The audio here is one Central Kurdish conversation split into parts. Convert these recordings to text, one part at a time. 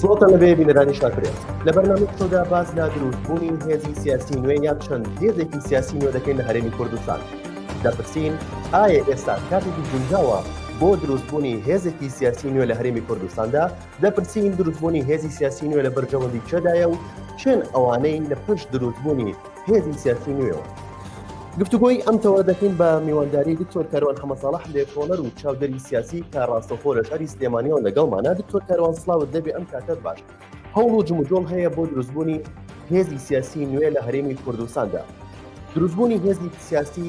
سڵتان لەبێ بینەرانی شاکرێت لە بەرنامە تۆدا باز لە دروستبوونی هێزی سیاسی نوێ یان چەند هێزێکی سیاسی نوێ دەکەین لە هەرێمی کوردستان دەپرسین ئایا ئێستا کاتێکی گونجاوە بۆ دروستبوونی هێزێکی سیاسی نوێ لە هەرێمی کوردستاندا دەپرسین دروستبوونی هێزی سیاسی نوێ لە بەرژەوەندی چێدایە و چێن ئەوانەی لە پشت دروستبوونی هێزی سیاسی نوێەوە گفتوگۆی ئەم تەوە دەکەین بە میوانداری دکتۆر کاروان حەمەساڵح لێکۆڵەر و چاودەری سیاسی تا ڕاستەخۆ لە شاری سلێمانیەوە لەگەڵمانە دکتۆر کاروان سلااوت دەبێ ئەم کاتەت باش هەوڵ و جموجۆڵ هەیە بۆ دروستبوونی هێزی سیاسی نوێ لە هەرێمی کوردستاندا دروستبوونی هێزی سیاسی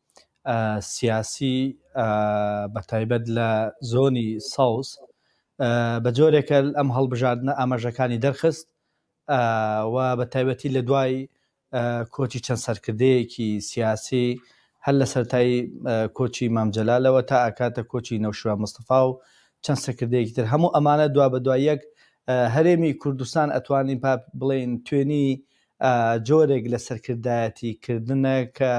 سیاسی بە تایبەت لە زۆنی سەوز بە جۆرێکە ئەم هەڵبژاردنە ئاماژەکانی دەرخست و بە تایبەتی لە دوای کۆچی چەند سەرکردەیەکی سیاسی هەر لە سەرای کۆچی مامجلالەوە تا ئاکاتە کۆچی نەوشوان مستەفا و چەند سەکردەیەکی تر هەموو ئەمانە دوا بە دواییەک هەرێمی کوردستان ئەتوانین بڵێن توێنی جۆرێک لە سەرکردایەتی کردنە کە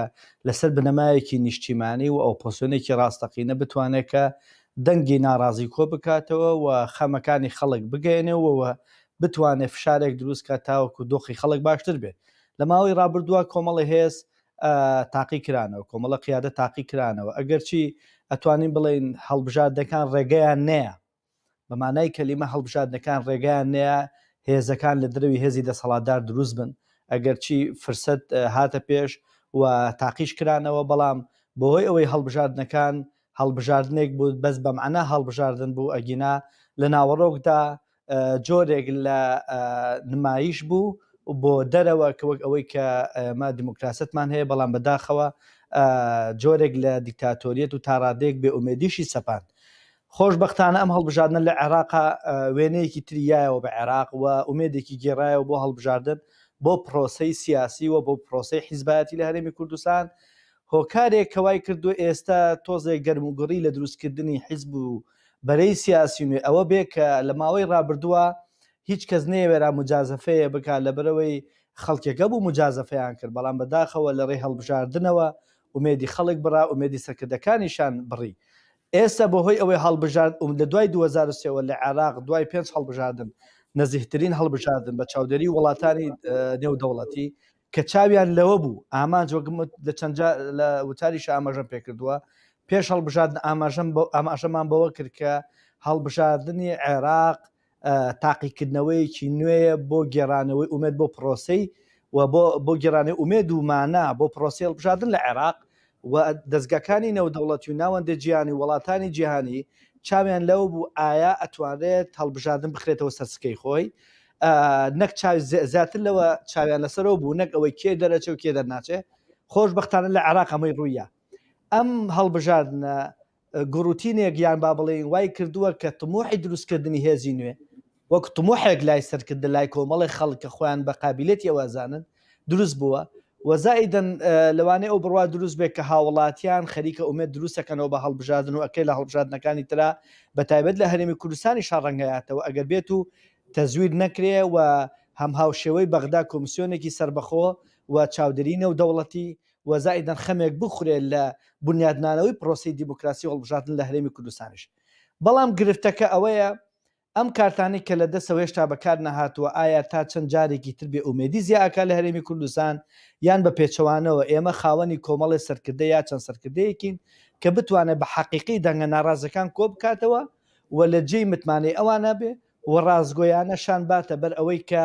لەسەر بنەمایەکی نیشتیمانی و ئۆپۆسیۆنێکی ڕاستەقینە بتوانێ کە دەنگی ناڕازی کۆ بکاتەوە و خەمەکانی خەڵک بگەیەنێ و بتوانێ فشارێک دروست کا تاوەکو دۆخی خەڵک باشتر بێ. لە ماوەی ڕابردووە کۆمەڵی هێز تاقی کرانەوە، کۆمەڵە قیادە تاقی کرانەوە، ئەگەرچی ئەتوانین بڵێین هەڵبژاردەکان ڕێگەیان نەیا، بە مانای کەلیمە هەڵبژاردنەکان ڕێگایان نەیا هێزەکان لە درەوی هێزی دەسەڵاتدار دروست بن، ئەگەرچی فرسەت هاتە پێش و تاقیش کرانەوە، بەڵام بەهۆی ئەوەی هەڵبژاردنەکان هەڵبژاردنێک بوو بەس بەمعنا هەڵبژاردن بوو ئەگینا لە ناوەڕۆکدا جۆرێک لە نمایش بوو بۆ دەرەوە کە وەک ئەوەی کە ئەمە دیموکراسەتمان هەیە بەڵام بەداخەوە جۆرێک لە دیکتاتۆریەت و تاڕادێک بێ ئومێدیشی سەپاند خۆشبەختانە ئەم هەڵبژاردنە لە عێراقا وێنەیەکی تری یایەوە بە عێراق و ئومێدێکی گێڕایەوە بۆ هەڵبژاردن بۆ پرۆسەی سیاسی و بۆ پرۆسەی حیزبایەتی لە هەرێمی کوردستان، هۆکارێک کە وای کردووە ئێستا تۆزێک گەرموگوڕی لە دروستکردنی حیزب و بەرەی سیاسی نوێ ئەوە بێ کە لە ماوەی رابردووە هیچ کەس نەیەوێرا موجازەفەیێ بکا لەبەرئەوەی خەڵکێکە بوو موجازەفەیان کرد بەڵام بەداخەوە لە رێی هەڵبژاردنەوە ئومێدی خەڵک بڕا ئومێدی سەرکردەکانیشان بڕی ئێستا بە هۆی ئەوەی هەڵبژارد م لە دوای دوو هەزار و سێ وە لە عێراق دوای پێنج هەڵبژاردن نزیهترین هەڵبژاردن بە چاودێری وڵاتانی نێودەوڵەتی کە چاویان لەوە بوو ئامانج وەک م لە چەند جار لە وتاریشا ئاماژەم پێ کردووە پێش هەڵبژاردن ئاماژەم بەو ئاماژەمان بەوە کرد کە هەڵبژاردنی عێراق تاقیکردنەوەیەکی نوێیە بۆ گێڕانەوەی ئومێد بۆ پڕۆسەی و بۆ بۆ گێڕانەوەی ئومێد و مانا بۆ پڕۆسەی هەڵبژاردن لە عێراق و دەزگاکانی نێودەوڵەتی و ناوەندە جیهانی و وەڵاتانی جیهانی چاویان لەوە بوو ئایا ئەتوانرێت هەڵبژاردن بخرێتەوە سەر سکەی خۆی نەک زیاتر لەوە چاویان لەسەرەوە بوو نەک ئەوەی کێ دەرەچە و کێ دەرناچێ خۆشببختانە لە عێراق ئەمەی ڕوویە ئەم هەڵبژاردنە گوڕوتینێک یان با بڵێین وای کردووە کە تموحی دروستکردنی هێزی نوێ وەک تموحێک لای سەرکردە لای کۆمەڵێک خەڵک کە خۆیان بە قابیلێتی ئەوە ئەزانن دروست بووە و زائیدەن لەوانەیە ئەو بڕوا دروست بێت کە هاوڵاتیان خەریکە ئومێد دروستەکەنەوە بە هەڵبژاردن و ئەکرێ لە هەڵبژاردنەکانی ترا بە تایبەت لە هەرێمی کوردستانی شاڕەنگەیاتەوە ئەگەر بێت و تەزویر نەکرێ و هەم هاوشێوەی بەغدا کۆمسیۆنێکی سەربەخۆ و چاودێری نێودەوڵەتی و زائیدەن خەمێک بخورێت لە بونیادنانەوەی پرۆسەی دیموکراسی و هەڵبژاردن لە هەرێمی کوردستانیش. بەڵام گرفتەکە ئەوەیە ئەم کارتانەی کە لە دەستە و هێشتا بەکار نەهاتووە ئایا تا چەند جارێکی تر بێ ئومێدی زیا ئەکات لە هەرێمی کوردستان یان بە پێچەوانەوە ئێمە خاوەنی کۆمەڵێ سەرکردە یا چەند سەرکردەیەکین کە بتوانێت بە حەقیقی دەنگە ناڕازەکان کۆ بکاتەوە و لە جێی متمانەی ئەوانە بێ و ڕاستگۆیانە شان باتە بەر ئەوەی کە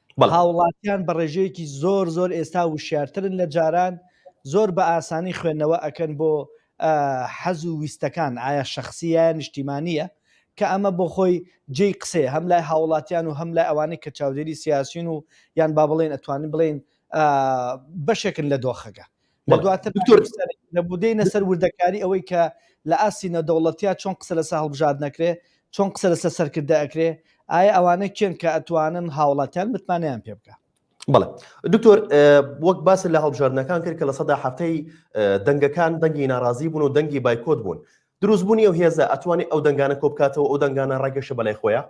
هاوڵاتیان بەڕێژەیەکی زۆر زۆر ئێستا وشارترن لە جاران زۆر بە ئاسانی خوێندنەوە ئەکەن بۆ حەز و ویستەکان ئایا شخصیە نیشتیمانیە کە ئەمە بۆ خۆی جێی قسەیە هەم لای هاوڵاتیان و هەم لای ئەوانەی کە چاودێری سیاسین و یان با بڵێن ئەتوانین بڵین بەشێکن لە دۆخەکە لە دواتر دکتۆر دەبودەینە سەر وردەکاری ئەوەی کە لە ئاستی نەدەوڵەتیا چۆن قسە لەسە هەڵبژارد نەکرێ چۆن قسە لەسە سەرکردە ئەکرێ ئایا ئەوانە کێن کە ئەتوانن هاوڵاتیان متمانیان پێ بکە بڵێ دکتۆر وەک باس لە هەڵبژاردنەکان کرد کە لە سەدا هەفتەی دەنگەکان دەنگی ناڕازی بوون و دەنگی بایکۆت بوون دروستبوونی و هێزە ئەتوانی ئەو دەنگانە کۆبکاتەوە ئەو دەنگانە ڕێگەشە بەلای خۆیان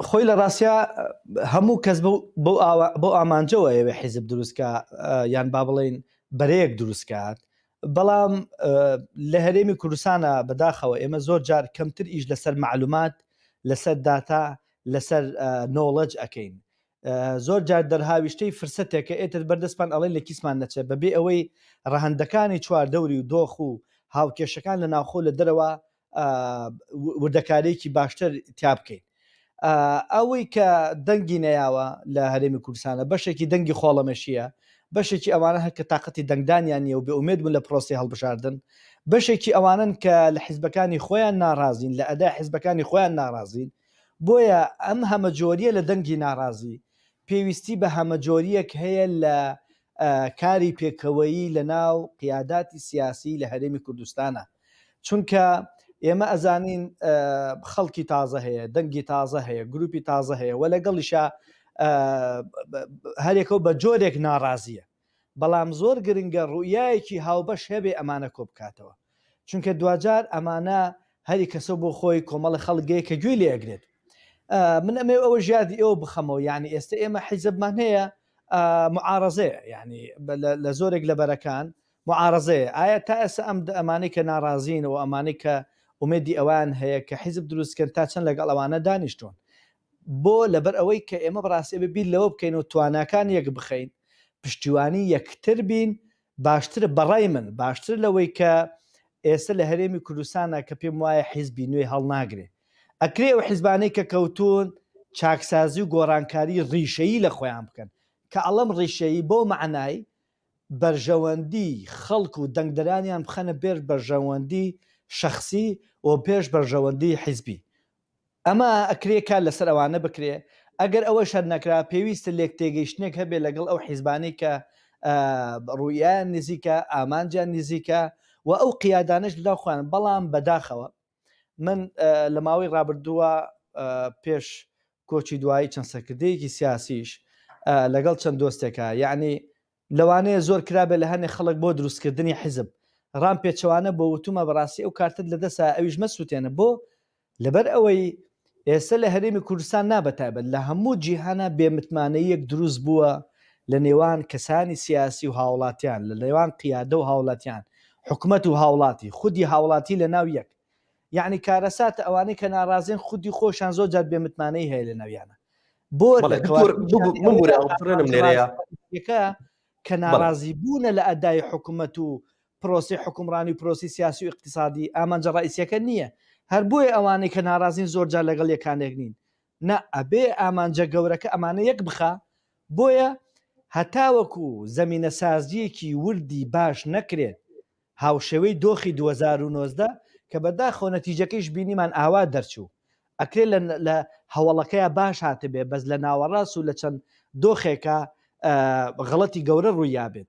خۆی لە ڕاستیا هەموو کەس بۆ ئامانجەوە ئەوێ حیزب دروستکە یان با بڵین بەرەیەک دروستکات بەڵام لە هەرێمی کوردستانە بەداخەوە ئێمە زۆر جار کەمتر ئیش لەسەر معلومات لەسەر داتا لەسەر نۆڵەج ئەەکەین زۆر جار دەرهاویشتەی فرسەتێکە ئێتر بەردەستمان ئەڵێن لە کیسمان نەچێت بەبێ ئەوەی ڕەهندەکانی چواردەوری و دۆخ و هاوکێشەکان لە ناوخۆ لە دەرەوە وردەکاریەکی باشتر تیا بکەین ئەوەی کە دەنگی نەیاوە لە هەرێمی کوردستانە بەشێکی دەنگی خۆڵەمەشیە بەشێکی ئەوانە هەکە تااقەتی دەنگدانیان نیە و بێ ئومێد بوون لە پرۆسی هەڵبژاردن بەشێکی ئەوانن کە لە حیزبەکانی خۆیان ناڕازین لە ئەدا حیزبەکانی خۆیان ناڕازین بۆیە ئەم هەمەجۆریە لە دەنگی ناڕازی پێویستی بە هەمەجۆریەک هەیە لە کاری پێکەوەیی لە ناو قیاداتی سیاسی لە هەرێمی کوردستانە چونکە ئێمە ئەزانین خەڵکی تازە هەیە دەنگی تازە هەیە گروپی تازە هەیە وە لەگەڵیشە هەرێکەو بە جۆرێک ناڕازیە بەڵام زۆر گرنگە ڕوئایەکی هاوبەش هەبێ ئەمانە کۆ بکاتەوە چونکە دوجار ئەمانە هەری کەسە بۆ خۆی کۆمەڵە خەڵگەیە کە گوێی لێگرێت من ئەمێ ئەوە ژیادی ئەوە بخەمەوە یعنی ئێستا ئێمە حیزبمان هەیە معارزەیە یعنی لە زۆرێک لە بەرەکان معارەزەیە ئایا تا ئێستا ئەم دە ئەمانەی کە ناڕازین و ئەمانەی کە ئومێدی ئەوەیان هەیە کە حیزب دروست بکەن تا چەند لەگەڵ ئەوانە دانیشتوون بۆ لەبەر ئەوەی کە ئێمە بەڕاستی ئەبێ بیر لەوە بکەین و تواناکان یەک بخەین پشتیوانی یەکتر بین باشترە بەڕای من باشتر لەوەی کە ئێستا لە هەرێمی کوردستانە کە پێم وایە حیزبی نوێی هەڵناگرێ ئەکرێ ئەو حیزبانەی کە کەوتون چاکسازی و گۆڕانکاری ڕیشەیی لە خۆیان بکەن کە ئەڵەم ڕیشەیی بۆ مەعنای بەرژەوەندی خەڵک و دەنگدەرانیان بخەنە پێش بەرژەوەندی شەخسی و پێش بەرژەوەندی حیزبی. ئەمە ئەکرێ کار لەسەر ئەوانە بکرێ، ئەگەر ئەوەش هەر نەکرا پێویستە لێکتێگەیشتنێک هەبێ لەگەڵ ئەو حیزبانەی کە ڕوئیایان نزیکە، ئامانجیان نزیکە و ئەو قیادانەش لەناو خۆیان، بەڵام بەداخەوە. من لە ماوەی ڕابردووە پێش کۆچی دوایی چەند سەرکردەیەکی سیاسیش لەگەڵ چەند دۆستێکە یعنی لەوانەیە زۆر کرابێت لە هەنێ خەڵک بۆ دروستکردنی حیزب ڕام پێچەوانە بۆ وتومە بەڕاستی ئەو کارتت لە دەسا ئەویش مەسووتێنە بۆ لەبەر ئەوەی ئێستا لە هەرێمی کوردستان نا بەتایبەت لە هەموو جیهانا بێ متمانەییەک دروست بووە لە نێوان کەسانی سیاسی و هاوڵاتیان لە نێوان قیادە و هاوڵاتیان حکومەت و هاوڵاتی خودی هاوڵاتی لە ناو یەک یەعنی کارەساتە ئەوانەی کە ناڕازین خودی خۆشان زۆر جار بێ متمانەی هەیە لە ناویانە بۆ بەڵێ دکتۆر بگو بمبورە ئەو بڕێنم لێرەیە یەکە کە ناڕازی بوونە لە ئەدای حکومەت و پرۆسەی حوکمڕانی و پرۆسەی سیاسی و ئیقتیسادی ئامانجە ڕەئیسیەکە نیە هەر بۆیە ئەوانەی کە ناڕازین زۆر جار لەگەڵ یەکانێک نین نا ئەبێ ئامانجە گەورەکە ئەمانە یەک بخا بۆیە هەتاوەکو زەمینە سازیەکی وردی باش نەکرێ هاوشێوەی دۆخی دوو هەزار و نۆزدە کە بەداخەوە نەتیجەکەیش بینیمان ئاوا دەرچوو ئەکرێ لە لە هەوڵەکەیە باش هاتبێ بەس لە ناوەڕاست و لە چەند دۆخێکە غڵەتی گەورە ڕوویابێت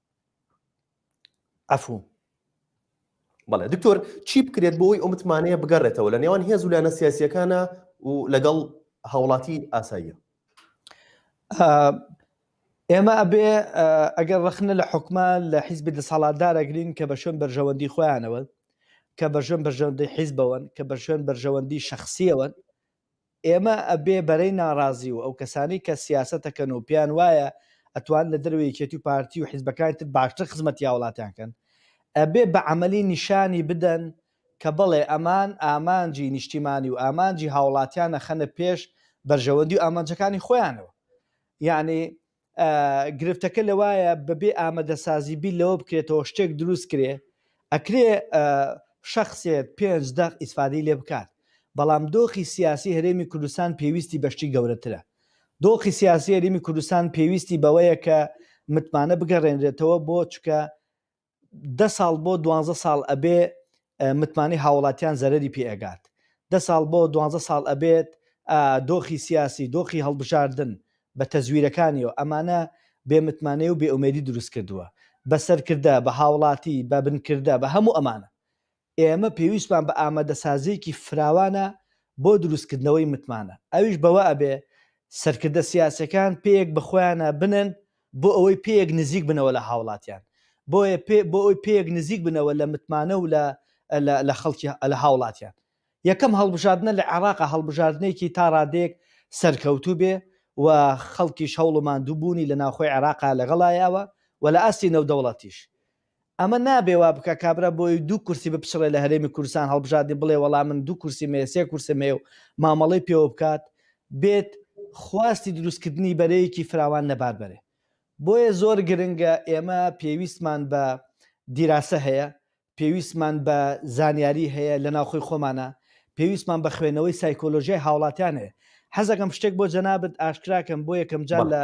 عفو بەڵێ دکتۆر چی بکرێت بۆ ئەوی ئەو متمانەیە بگەڕێتەوە لە نێوان هێز و لایەنە سیاسیەکانە و لەگەڵ هاوڵاتی ئاساییە ئێمە ئەبێ ئەگەر ڕخنە لە حکومە لە حیزبی دەسەڵاتدارەگرین کە بە شوێن بەرژەوەندی خۆیانەوە کە بە ژێن بەژەندی حیزبەوەن کە بە شوێن بەرژەوەندی شخصیەوەن ئێمە ئەبێ بەرەی ناڕازی و ئەوکەسانەی کە سیاسەتەکەن و پێیان وایە ئەتوان لە دەرەوەی یەکێتی و پارتی و حیزبەکانی تر باشتر خزمەتی هاوڵاتیان کەن ئەبێ بە عەمەلی نیشانی بدەن کە بەڵێ ئەمان ئامانجی نیشتیمانی و ئامانجی هاوڵاتیان ئەخەنە پێش بەرژەوەندی و ئامانجەکانی خۆیانەوە یانی گرفتەکە لەوایە بەبێ ئامەدەسازی بیر لەوە بکرێتەوە شتێک دروست کرێ ئەکرێ شەخسێت پێنج دەق ئیسفادەی لێ بکات بەڵام دۆخی سیاسی هەرێمی کوردستان پێویستی بەشتی گەورەترە دۆخی سیاسی هەرێمی کوردستان پێویستی بەوەیە کە متمانە بگەڕێنرێتەوە بۆ چکە دە ساڵ بۆ دوانزە ساڵ ئەبێ متمانەی هاوڵاتیان زەرەری پێ ئەگات دە ساڵ بۆ دوانزە ساڵ ئەبێت دۆخی سیاسی دۆخی هەڵبژاردن بە تەزویرەکانیەوە ئەمانە بێ متمانەی و بێ ئومێدی دروست کردووە بە سەرکردە بە هاوڵاتی بە بنکردە بە هەموو ئەمانە ئێمە پێویستمان بە ئامادەسازییەکی فراوانە بۆ دروستکردنەوەی متمانە، ئەویش بەوە ئەبێ سەرکردە سیاسیەکان پێیەک بە خۆیانا بنێن بۆ ئەوەی پێیەک نزیک بنەوە لە هاوڵاتیان، بۆیە پێ بۆ ئەوەی پێیەک نزیک بنەوە لە متمانە و لە لە خەڵکی لە هاوڵاتیان. یەکەم هەڵبژاردنە لە عێڕاقا هەڵبژاردنێکی تا ڕادەیەک سەرکەوتوو بێ و خەڵکیش هەوڵ و ماندوو بوونی لە ناوخۆی عێڕاقا لەگەڵایاوە و لە ئاستی نێودەوڵەتیش ئەمە نابێ وا بکا کابرا بۆی دوو کورسی بپچڕێ لە هەرێمی کوردستان هەڵبژاردی بڵێ وەڵا من دوو کورسیم هەیە سێ کورسم هەیە و مامەڵەی پێوە بکات بێت خواستی دروست کردنی بەرەیەکی فراوان لەبار بەرێ بۆیە زۆر گرنگە ئێمە پێویستمان بە دیراسە هەیە پێویستمان بە زانیاری هەیە لە ناوخۆی خۆمانە پێویستمان بە خوێنەوەی سایکۆلۆژیای هاوڵاتیان هەیە حەزەکەم شتێک بۆ جەنابەت ئاشکراکەم بۆ یەکەم جار لە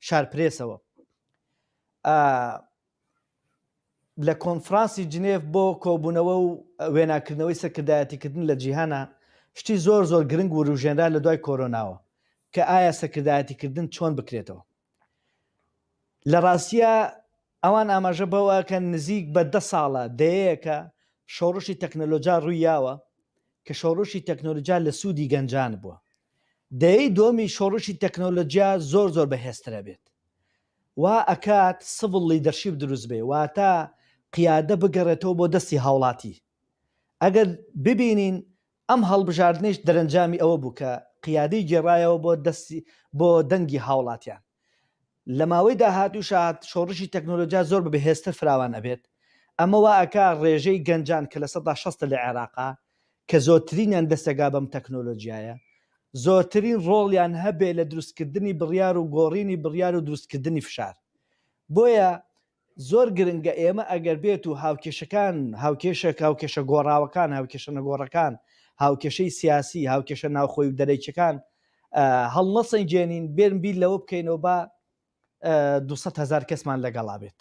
شارپرێسەوە لە کۆنفرانسی جنێڤ بۆ کۆبوونەوە و وێناکردنەوەی سەرکردایەتیکردن لە جیهانا شتی زۆر زۆر گرنگ وروژێنرا لە دوای کۆرۆناوە کە ئایا سەرکردایەتیکردن چۆن بکرێتەوە. لە ڕاستیا ئەوان ئاماژە بەوەکەن نزیک بە دە ساڵە دەیەیەکە شۆڕشی تەکنەلۆجا ڕووی یاوە کە شۆڕشی تەکنۆلجیا لە سوودی گەنجان بووە دەیەی دووەمی شۆڕشی تەکنۆلۆجیا زۆر زۆر بەهێزترە بێت وا ئەکات سڤڵ لیدەرشیپ دروست بێ واتە قیادە بگەڕێتەوە بۆ دەستی هاوڵاتی ئەگەر ببینین ئەم هەڵبژاردنەیش دەرەنجامی ئەوە بوو کە قیادەی گێڕایەوە بۆ دەستی بۆ دەنگی هاوڵاتیان لە ماوەی داهاتووشا شۆڕشی تەکنۆلۆجیا زۆر بە بەهێزتر فراوان ئەبێت ئەمە وا ئەکا ڕێژەی گەنجان کە لە سەدا شەست لە عێراقا کە زۆرترینیان دەسەگا بەم تەکنۆلۆجیایە، زۆرترین ڕۆڵیان هەبێ لە دروستکردنی بڕیار و گۆڕینی بڕیار و دروستکردنی فشار. بۆیە زۆر گرنگە ئێمە ئەگەر بێت و هاوکێشەکان، هاوکێشە، هاوکێشە گۆڕاوەکان، هاوکێشە نەگۆڕەکان، هاوکێشەی سیاسی، هاوکێشە ناوخۆی و دەرەکیەکان هەڵنەسەنگێنین، بێن بیر لەوە بکەینەوە با، دوو سەد هەزار کەسمان لەگەڵا بێت.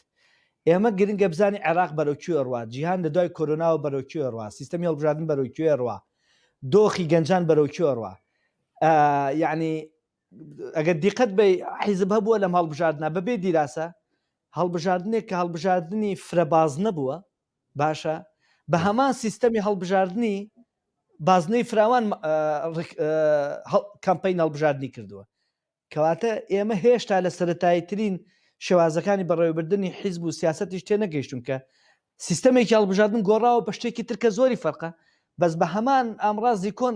ئێمە گرنگە بزانین عێراق بەرەو کوێ ئەڕوا، جیهان لە دوای کۆرۆناوە بەرەو کوێ ئەڕوا، سیستەمی هەڵبژاردن بەرەو کوێ ئەڕوا، دۆخی گەنجان بەرەو کوێ ئەڕوا. یەعنی ئەگەر دیقەت بەی حیزب هەبووە لەم هەڵبژاردنە بەبێ دیراسە، هەڵبژاردنێک کە هەڵبژاردنی فرە بازنە بووە، باشە بە هەمان سیستەمی هەڵبژاردنی بازنەی فراوان کەمپەین هەڵبژاردنی کردووە. کەواتە ئێمە هێشتا لە سەرەتاییترین شێوازەکانی بەڕێوەبردنی حیزب و سیاسەتیش تێنەگەیشتوون کە سیستەمێکی هەڵبژاردن گۆڕاوە بە شتێکی تر کە زۆری فەرقە بەس بە هەمان ئامڕازی کۆن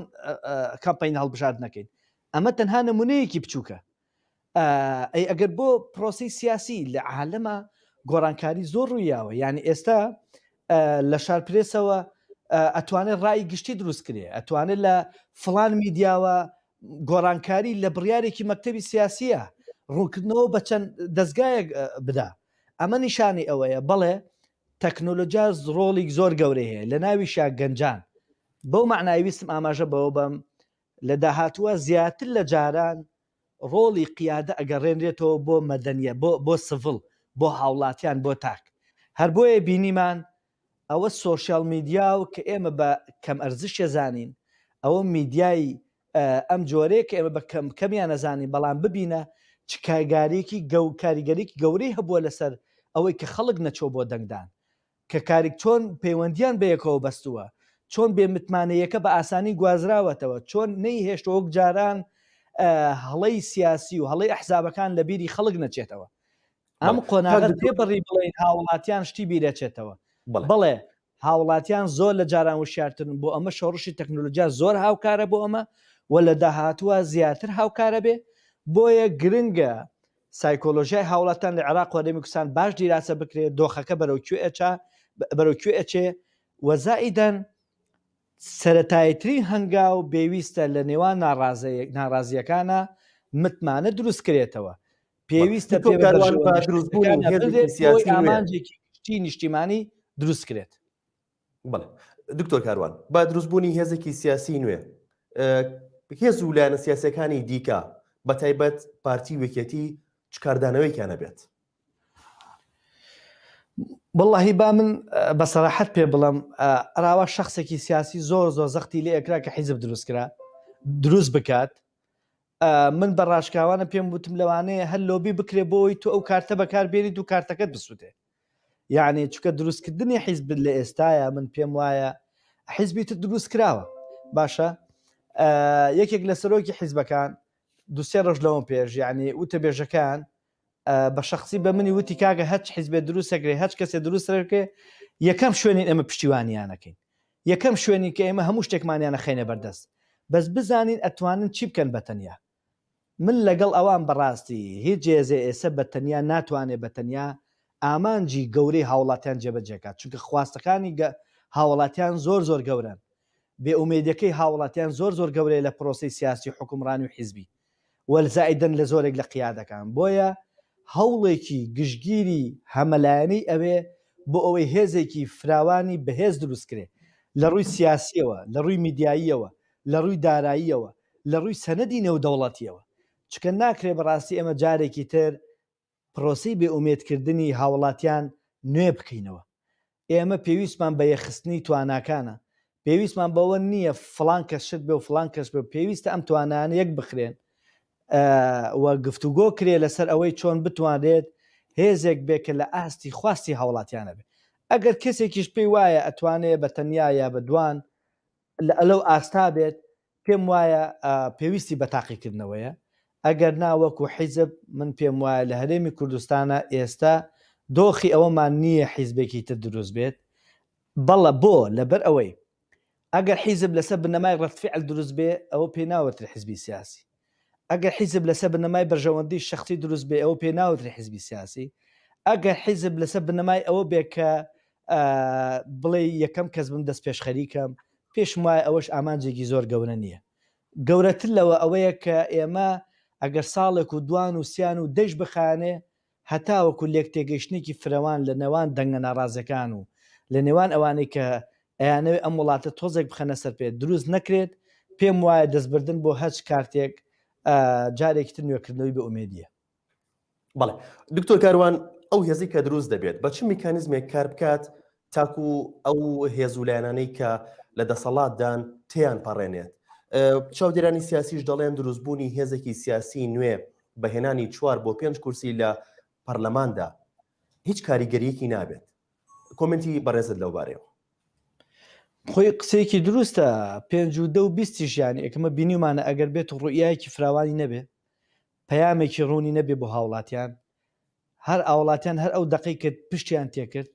کامپین هەڵبژاردنەکەین ئەمە تەنها نمونەیەکی بچووکە ئەی ئەگەر بۆ پرۆسی سیاسی لە عالەما گۆڕانکاری زۆر ڕوویاوە یعنی ئێستا لە شار پرێسەوە ئەتوانێت ڕای گشتی دروست کرێ ئەتوانێت لە فلان میدیاوە گۆڕانکاری لە بڕیارێکی مەکتەبی سیاسیە ڕوونکردنەوە بە چەند دەستگایەک بدا ئەمە نیشانی ئەوەیە بەڵێ تەکنۆلۆجیا ڕۆڵی زۆر گەورەی هەیە لە ناویشا گەنجان بەو معنای ویستم ئاماژە بەوە بەم لە داهاتووە زیاتر لە جاران ڕۆڵی قیادە ئەگەڕێنرێتەوە بۆ مەدەنیە بۆ بۆ سڤڵ بۆ هاوڵاتیان بۆ تاک هەر بۆیە بینیمان ئەوە سۆشیال میدیا و کە ئێمە بە کەم ئەرزشێ زانین ئەوە میدیای ئەم جۆرەیە کە ئێمە بە کەم کەمیان ئەزانین بەڵام ببینە چ کایگاریکی گەو کاریگەریکی گەورەی هەبووە لەسەر ئەوەی کە خەڵک نەچۆ بۆ دەنگدان کە کاریک چۆن پەیوەندیان بەیەکەوە بەستووە چۆن بێ متمانەیەکە بە ئاسانی گوازراوەتەوە چۆن نەی هێشت وەک جاران هەڵەی سیاسی و هەڵەی ئەحزابەکان لە بیری خەڵک نەچێتەوە ئەم قۆناغە پێ بڕی بڵێن هاوڵاتیان شتی بیرەچێتەوە بڵێ هاوڵاتیان زۆر لە جاران وشارتن بۆ ئەمە شۆڕشی تەکنۆلۆجیا زۆر هاوکارە بۆ ئەمە و لە داهاتووە زیاتر هاوکارە بێ بۆیە گرنگە سایکۆلۆژای هاوڵاتان لە عێراق وەرەمی کوردستان باش دیراسە بکرێت دۆخەکە بەرەو کوێچە بەرەو کوێچێ وەزائیدەن سەتایترین هەنگاو بێویستە لە نێوان ناڕازەیەک ناڕازیەکانە متمانە دروستکرێتەوە پێویستە ئامانجێکی نیشتیمانی دروست کرێت بڵێ دکتۆر کاروان با دروستبوونی هێزێکی سیاسی نوێ هێز و لایەنە سیاسەکانی دیکە بە تایبەت پارتی وەکێتی چکاردانەوەیکیانە بێت بڵی با من بە سەراحەت پێ بڵم ئەراوا شخصێکی سیاسی زۆر زۆر زەختی لێ ئەکرا کە حیزب دروستکرا دروست بکات من بە ڕاشکاوانە پێم وتم لەوانەیە هەر لۆبی بکرێ بۆی تو ئەو کارتە بەکار بێنیت و کارتەکەت بسووتێ یعنی چکە دروستکردنی حیزب لە ئێستاە من پێم وایە حیزبی تر دروست کراوە باشە یەکێک لە سەرۆکی حیزبەکان دوسێ ڕژ لەوەم پێش یعنی وتە بێژەکان بە شەخسی بە منی وتی کاکە هەچ حیزبێ دروست ئەکرێ هەچ کەسێ دروست ئەکرێ یەکەم شوێنین ئێمە پشتیوانیان ئەکەین یەکەم شوێنین کە ئێمە هەموو شتێکمانیان نەخەینە بەردەست بەس بزانین ئەتوانن چی بکەن بە تەنیا من لەگەڵ ئەوان بەڕاستی هیچ جێزێ ئێسە بە تەنیا ناتوانێ بە تەنیا ئامانجی گەورەی هاوڵاتیان جێبەجێکات چونکە خواستەکانی گە هاوڵاتیان زۆر زۆر گەورەن بێئومێدەکەی هاوڵاتیان زۆر زۆر گەورەیە لە پرۆسی سیاسی حکومڕانی و حیزبی والزائیدەن لە زۆرێک لە قیادەکان، بۆیە هەوڵێکی گشتگیری هەمەلایەنەی ئەوێ بۆ ئەوەی هێزێکی فراوانی بەهێز دروست کرێ، لە ڕووی سیاسییەوە، لە ڕووی میدیاییەوە، لە ڕووی داراییەوە، لە ڕووی سەنەدی نێودەوڵەتییەوە، چونکە ناکرێ بەڕاستی ئێمە جارێکی تر پرۆسەی بێ ئومێد کردنی هاوڵاتیان نوێ بکەینەوە. ئێمە پێویستمان بە یەخستنی تواناکانە. پێویستمان بەوە نییە فڵان کەس شت بێ و فڵان کەس بێ. پێویستە ئەم توانایانە یەک بخرێن و گفتوگۆ کرێ لەسەر ئەوەی چۆن بتوانرێت هێزێک بێ کە لە ئاستی خواستی هاوڵاتیانە بێ. ئەگەر کەسێکیش پێی وایە ئەتوانێ بە تەنیا یا بە دوان لە لەو ئاستا بێت، پێم وایە پێویستی بە تاقیکردنەوەیە، ئەگەر نا وەکو حیزب من پێم وایە لە هەرێمی کوردستانا ئێستا دۆخی ئەوەمان نییە حیزبێکی تر دروست بێت، بەڵە بۆ؟ لەبەر ئەوەی ئەگەر حیزب لەسەر بنەمای ڕەدفیعل دروست بێ ئەوە پێی ناوترێ حیزبی سیاسی، ئەگەر حیزب لەسەر بنەمای بەرژەوەندی شەخسی دروست بێ ئەوە پێ ناوترێ حیزبی سیاسی ئەگەر حیزب لەسەر بنەمای ئەوە بێ کە بڵێ یەکەم کەس بم دەست پێش خەریکەم پێشم وایە ئەوەش ئامانجێکی زۆر گەورە نییە گەورەتر لەوە ئەوەیە کە ئێمە ئەگەر ساڵێک و دوان و سیان و دەیش بخانێ هەتاوەکو لێکتێگەیشتنێکی فرەوان لە نێوان دەنگە ناڕازیەکان و لە نێوان ئەوانەی کە ئەیانەوێت ئەم وڵاتە تۆزێک بخەنە سەر پێ دروست نەکرێت، پێم وایە دەستبردن بۆ هەچ کارتێک جارێکی تر نوێکردنەوەی بێ ئومێدیە. بەڵێ دکتۆر کاروان، ئەو هێزەی کە دروست دەبێت بە چ میکانیزمێک کار بکات تاکو ئەو هێز و لایەنانەی کە لە دەسەڵاتدان تێیان پەڕێنێت. چاودێرانی سیاسیش دەڵێن دروستبوونی هێزێکی سیاسی نوێ بە هێنانی چوار بۆ پێنج کورسی لە پەرلەماندا هیچ کاریگەریەکی نابێت. کۆمنتی بەڕێزت لەو بارەیەوە. خۆی قسەیەکی دروستە پێنج و دە و بیستیش یان ئێکمە بینیمانە ئەگەر بێت ڕوئایەکی فراوانی نەبێ پەیامێکی ڕوونی نەبێ بۆ هاوڵاتیان هەر ئاوەڵاتیان هەر ئەو دەقەی کرد پشتیان تێکرد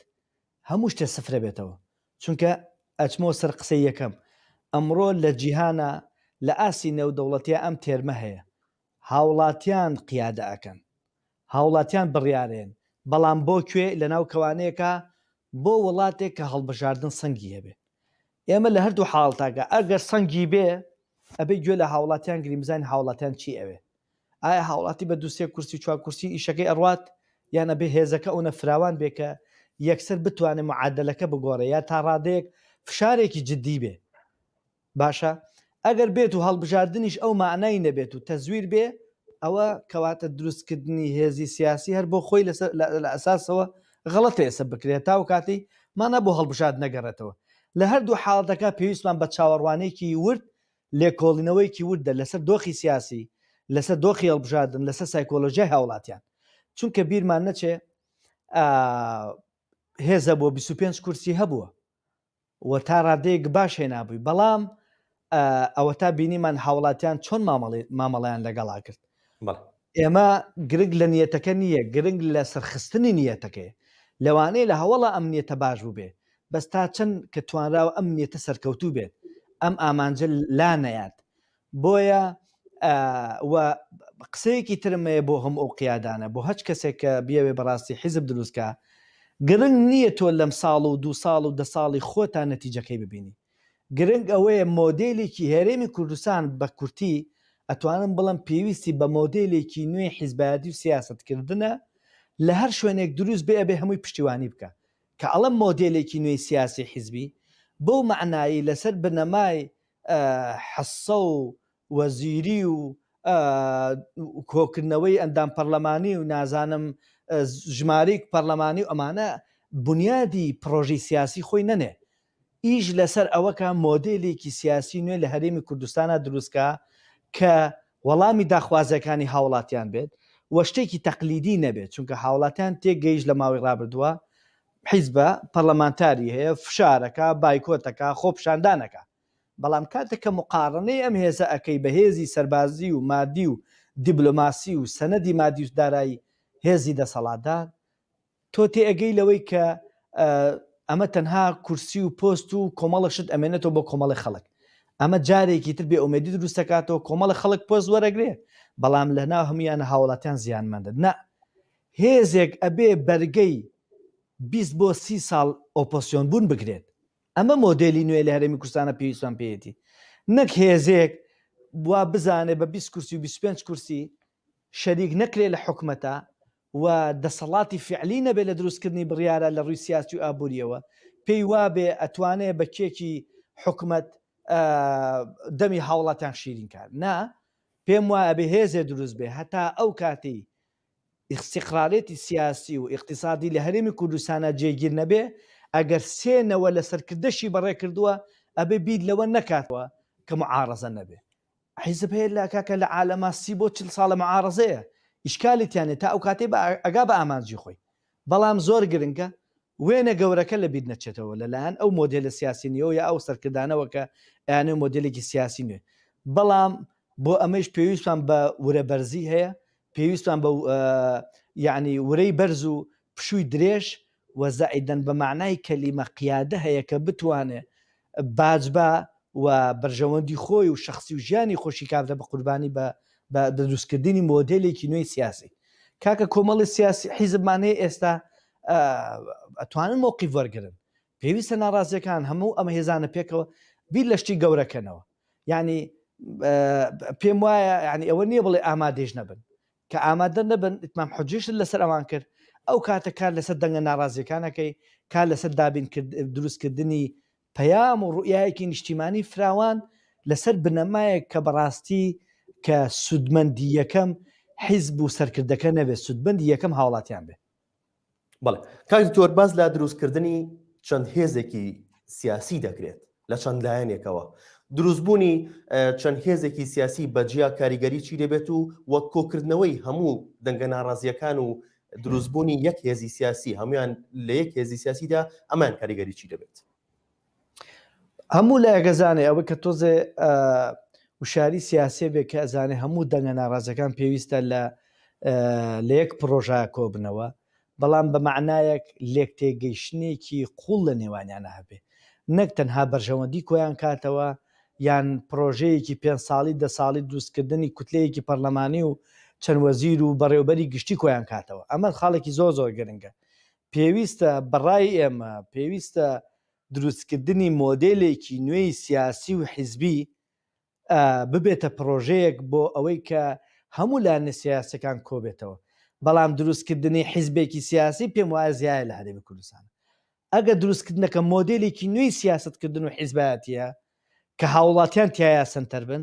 هەموو شتێ سفرەبێتەوە چونکە ئەچمەوە سەر قسەی یەکەم ئەمڕۆ لە جیهانا لە ئاستی نێودەوڵەتیا ئەم تێرمە هەیە هاوڵاتیان قیادە ئەکەن هاوڵاتیان بڕیارێن بەڵام بۆ کوێ لەناو کەوانێکا بۆ وڵاتێک کە هەڵبژاردن سەنگی هەبێ ئێمە لە هەردوو حاڵتاگە ئەگەر سەنگی بێ ئەبێ گوێ لە هاوڵاتیان گریم بزانین هاوڵاتیان چی ئەوێ ئایا هاوڵاتی بە دوو سێ کورسی و چوار کورسی ئیشەکەی ئەڕوات یان ئەبێ هێزەکە ئەونە فراوان بێ کە یەکسەر بتوانێ معادەلەکە بگۆڕێ یا تا ڕادەیەک فشارێکی جدی بێ باشە ئەگەر بێت و هەڵبژاردنیش ئەو مەعنای نەبێت و تەزویر بێ ئەوە کەواتە دروستکردنی هێزی سیاسی هەر بۆ خۆی لەسەر لە ئەساسەوە غەڵەتە ئێسە بکرێت تا و کاتی مانا بۆ هەڵبژاد نەگەڕێتەوە لە هەردوو حاڵەتەکە پێویستمان بە چاوەڕوانێکی ورد لێکۆڵینەوەیەکی وردە لەسەر دۆخی سیاسی، لەسەر دۆخی هەڵبژاردن، لەسەر سایکۆلۆژیای هاوڵاتیان. چونکە بیرمان نەچێ هێزە بۆ بیست و پێنج کورسی هەبووە و تا ڕادەیەک باش هێنابووی بەڵام ئەوە تا بینیمان هاوڵاتیان چۆن مامەڵی مامەڵیان لەگەڵا کرد ئێمە گرنگ لە نیەتەکە نییە گرنگ لە سەرخستنی نیەتەکەی لەوانەیە لە هەوڵە ئەمنیەتە باش بووبێ بەس تا چەند کە توانراوە ئەم نیەتە سەرکەوتوو بێت ئەم ئامانجە لا نەیات بۆیە و قسەیەکی ترمەیە بۆ هەم ئەو قیادانە بۆ هەچ کەسێک کە بیاوێ بەڕاستی حیزب دروستکە گرنگ نییە تۆ لەم ساڵ و دوو ساڵ و دە ساڵی خۆتان نەتیجەکەی ببینی گرنگ ئەوەیە مۆدیلێکی هەرێمی کوردستان بە کورتی ئەتوانم بڵم پێویستی بە مۆدیلێکی نوێی حیزبایەتی و سیاستکردنە لە هەر شوێنێک دروست بێ ئەبێ هەمووی پشتیوانی بکە کە ئەڵێم مۆدێلێکی نوێی سیاسی حیزبی، بەو مەعنایەی لەسەر بنەمای حصە و وەزیری و کۆکردنەوەی ئەندام پەڕلەمانی و نازانم ژمارەی پەڕلەمانی و ئەمانە بونیادی پڕۆژەی سیاسی خۆی نەنێ ئیش لەسەر ئەوەکا مۆدێلێکی سیاسی نوێ لە هەرێمی کوردستانا دروستکا کە وەڵامی داخوازیەکانی هاوڵاتیان بێت و شتێکی تەقلیدی نەبێت چونکە هاوڵاتیان تێکگەیشت لە ماوەی ڕابردوە حیزبە پەڕلەمانتاری هەیە فشارەکا بایکۆتەکا خۆپیشاندانەکا بەڵام کاتێک کە مقاڕنەی ئەم هێزە ئەکەی بە هێزی سەربازی و مادی و دیبلۆماسی و سەنەدی مادی و دارای هێزی دەسەڵاتدار تۆ تێ ئەگەی لەوەی کە ئەمە تەنها کورسی و پۆست و کۆمەڵە شت ئەمێنێتەوە بۆ کۆمەڵی خەڵک ئەمە جارێکی تر بێ ئومێدی دروست دەکاتەوە کۆمەڵە خەڵک پۆست وەرەگرێ بەڵام لە ناو هەمویانە هاوڵاتیان زیانمەندن نا هێزێک ئەبێ بەرگەی 20 بۆ سی ساڵ ئۆپۆسیۆن بوون بگرێت ئەمە مۆدلی نوێ لە هەرێمی کوردستانە پێویستمان پێیەتی نەک هێزێک بوا بزانێ بە 20 کورسی و 25 کورسی شەریک نەکرێ لە حکومەتە و دەسەڵاتی فیعلی نەبێ لە دروستکردنی بڕیارە لە ڕووی سیاسی و ئابوورییەوە پێی وابێ ئەتوانێ بە کێکی حکومەت دەمی هاوڵاتیان شیرین کا نا پێم وایە ئەبێ هێزێ دروست بێ هەتا ئەو کاتی ئیستیقرارێتی سیاسی و ئیقتیسادی لە هەرێمی کوردستانە جێگیر نەبێ ئەگەر سێ نەوە لە سەرکردەشی بەڕێ کردووە ئەبێ بیر لەوە نەکاتەوە کە معارەزە نەبێ حیزب هەیە اللە کاکە لە عالەما سی بۆ چل ساڵە معارەزەیە ئیشکالی تیانیە تا ئەوکاتەی بە ئەگا بە ئامانجی خۆی بەڵام زۆر گرنگە وێنە گەورەکە لە بیر نەچێتەوە لە لایەن ئەو مۆدێلە سیاسی نوێ یا ئەو سەرکردانەوە کە ئەیانەوێ مۆدێلێکی سیاسی نوێ بەڵام بۆ ئەمەیش پێویستمان بە ورە بەرزی هەیە پێویستمان بە یعنی ورەی بەرز و پشووی درێژ و زائیدەن بە مەعنای کەلیمە قیادە هەیە کە بتوانێ باج با و بەرژەوەندی خۆی و شەخسی و ژیانی خۆشی کابرە بە قوربانی بە بە دروست کردنی مۆدێلێکی نوێی سیاسی کاکە کۆمەڵی سیاسی حیزبمان هەیە ئێستا ئەتوانن مۆقیف وەرگرن پێویستە ناڕازیەکان هەموو ئەمە هێزانە پێکەوە بیر لە شتی گەورەکەنەوە یعنی پێم وایە ینی ئەوە نییە بڵێ ئامادەش نەبن کە ئامادە نەبن ئیتمام حوجیشت لەسەر ئەوان کرد، ئەو کاتە کار لەسەر دەنگە ناڕازیەکان ئەکەی، کار لەسەر دابین کرد دروست کردنی پەیام و ڕوئیایەکی نیشتیمانی فراوان لەسەر بنەمایەک کە بەڕاستی کە سودمەندی یەکەم حیزب و سەرکردەکە نەبێت سودمەندی یەکەم هاوڵاتیان بێت. بەڵێ کاک دکتۆر باس لە دروستکردنی چەند هێزێکی سیاسی دەکرێت لە چەند لایەنێکەوە دروستبوونی چەند هێزێکی سیاسی بەجیا کاریگەری چی دەبێت و وەک کۆکردنەوەی هەموو دەنگە ناڕازیەکان و دروستبوونی یەک هێزی سیاسی هەمویان لە یەک هێزی سیاسیدا ئەمان کاریگەری چی دەبێت هەموو لایەک ئەزانێ ئەوە کە تۆزێ وشاری سیاسێ بێ کە ئەزانێ هەموو دەنگە ناڕازەکان پێویستە لە لە یەک پرۆژە کۆبنەوە بەڵام بە معنایەک لێک تێگەیشتنێکی قوڵ لە نێوانیانە هەبێ نەک تەنها بەرژەوەندی کۆیان کاتەوە یان پرۆژەیەکی پێ ساڵی دە ساڵی دوستکردنی کوتلەیەکی پەرلەمانی و چەند وەزیر و بەڕێوبەری گشتی کۆیان کاتەوە ئەمە خاڵێکی زۆر زۆر گرنگە پێویستە بە ڕای ئێمە پێویستە دروستکردنی مۆدێلێکی نوێی سیاسی و حیزبی ببێتە پڕۆژەیەک بۆ ئەوەی کە هەموو لایەنە سیاسیەکان کۆبێتەوە بەڵام دروستکردنی حیزبێکی سیاسی پێم وایە زیایە لە هەرێمی کوردستان ئەگەر دروستکردنەکە مۆدێلێکی نوێی سیاستکردن و حیزبایەتە کە هاوڵاتیان تیایا سەنتەر بن،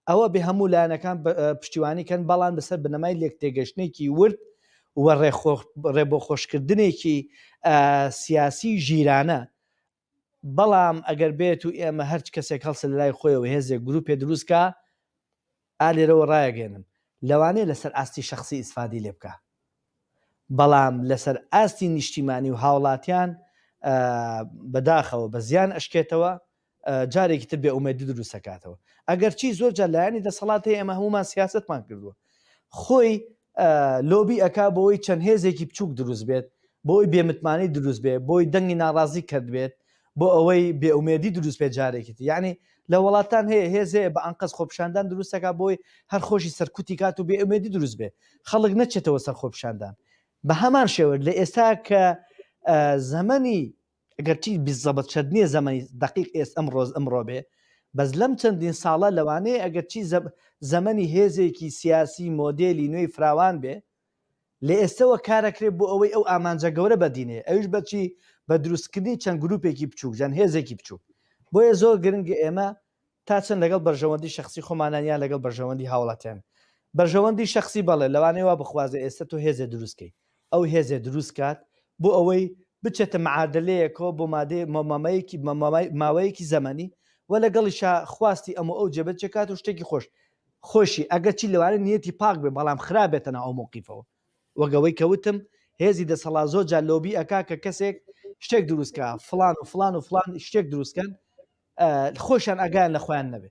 ئەوە بێ هەموو لایەنەکان پشتیوانی کەن، بەڵام لەسەر بنەمای لێکتێگەشتنێکی ورد و ڕێبۆخۆشکردنێکی سیاسی ژیرانە، بەڵام ئەگەر بێت و ئێمە هەرچ کەسێک هەڵسێ لەلای خۆیەوە هێزێک گروپێ دروست کا، ئا لێرەوە ڕایەگەیەنم لەوانەیە لەسەر ئاستی شەخسی ئیسفادەی لێ بکا بەڵام لەسەر ئاستی نیشتیمانی و هاوڵاتیان بە داخەوە بە زیان ئەشکێتەوە جارێکی تر بێ ئومێدی دروست ئەکاتەوە ئەگەرچی زۆر جار لایەنی دەسەڵات هەیە ئێمە هەموومان سیاسەتمان کردووە خۆی لۆبی ئەکا بۆوەی چەند هێزێکی بچوک دروست بێت بۆوەی بێ متمانەی دروست بێت بۆوەی دەنگی ناڕازی کەرت بێت بۆ ئەوەی بێ ئومێدی دروست بێت جارێکی تر یانی لە وەڵاتان هەیە هێز هەیە بە ئەنقەست خۆپیشاندان دروست ئەکا بۆوەی هەر خۆشی سەرکوتی کات و بێ ئومێدی دروست بێت خەڵک نەچێتەوە سەر خۆپیشاندان بە هەمان شێوە لە ئێستا کە زەمەنی گەرچی بیست زەبت چەت نیە زەمەنی دەقیق ئێس ئەمڕۆز ئەمڕۆ بێ بەس لەم چەندین ساڵە لەوانەیە ئەگەرچی زەب زەمەنی هێزێکی سیاسی مۆدێلی نوێی فراوان بێ لە ئێستەوە کارەکرێ بۆ ئەوەی ئەو ئامانجە گەورە بەدینێ ئەویش بەچی بە دروستکردنی چەند گروپێکی بچوک جەن هێزێکی بچوک بۆیە زۆر گرنگە ئێمە تا چەند لەگەڵ بەرژەوەندی شەخسی خۆمانان یان لەگەڵ بەرژەوەندی هاوڵاتیان؟ بەرژەوەندی شەخسی بەڵێ لەوانەیە وا بخوازێ ئێستا تۆ هێزێ دروست کەی ئەو هێزێ دروست کات بۆ ئەوەی بچێتە معادلەیەکەوە بۆ مادەیە مە مەمەیەکی مە مە ماوەیەکی زەمەنی وە لەگەڵیشا خواستی ئەم و ئەو جێبەج کات و شتێکی خۆش خۆشی ئەگەر چی لەوانەیە نیەتی پاک بێ بەڵام خراپ بێتە ناو ئەو مەوقیفەوە وەک ئەوەی کە وتم هێزی دەسەڵات زۆر جار لۆبی ئەکا کە کەسێک شتێک دروست کا فڵان و فڵان و فڵان شتێک دروست کەن خۆشیان ئاگایان لە خۆیان نەبێ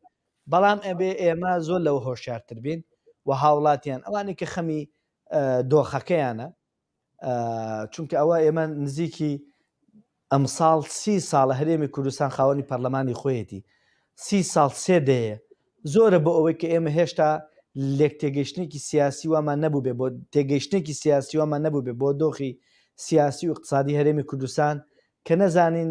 بەڵام ئەبێ ئێمە زۆر لەوە هۆشیارتر بین و هاوڵاتیان ئەوانی کە خەمی دۆخەکەیانە چونکە ئەوە ئێمە نزیکی ئەمساڵ سی ساڵە هەرێمی کوردستان خاوەنی پەرلەمانی خۆیەتی سی ساڵ سێ دەیە زۆرە بۆ ئەوەی کە ئێمە هێشتا لێک تێگەشتێکی سیاسی وامان نەبوو بێ بۆ تێگەشتێکی سیاسی وامان نەبوو بێ بۆ دۆخی سیاسی و اقتصادی هەرێمی کوردستان کە نەزانین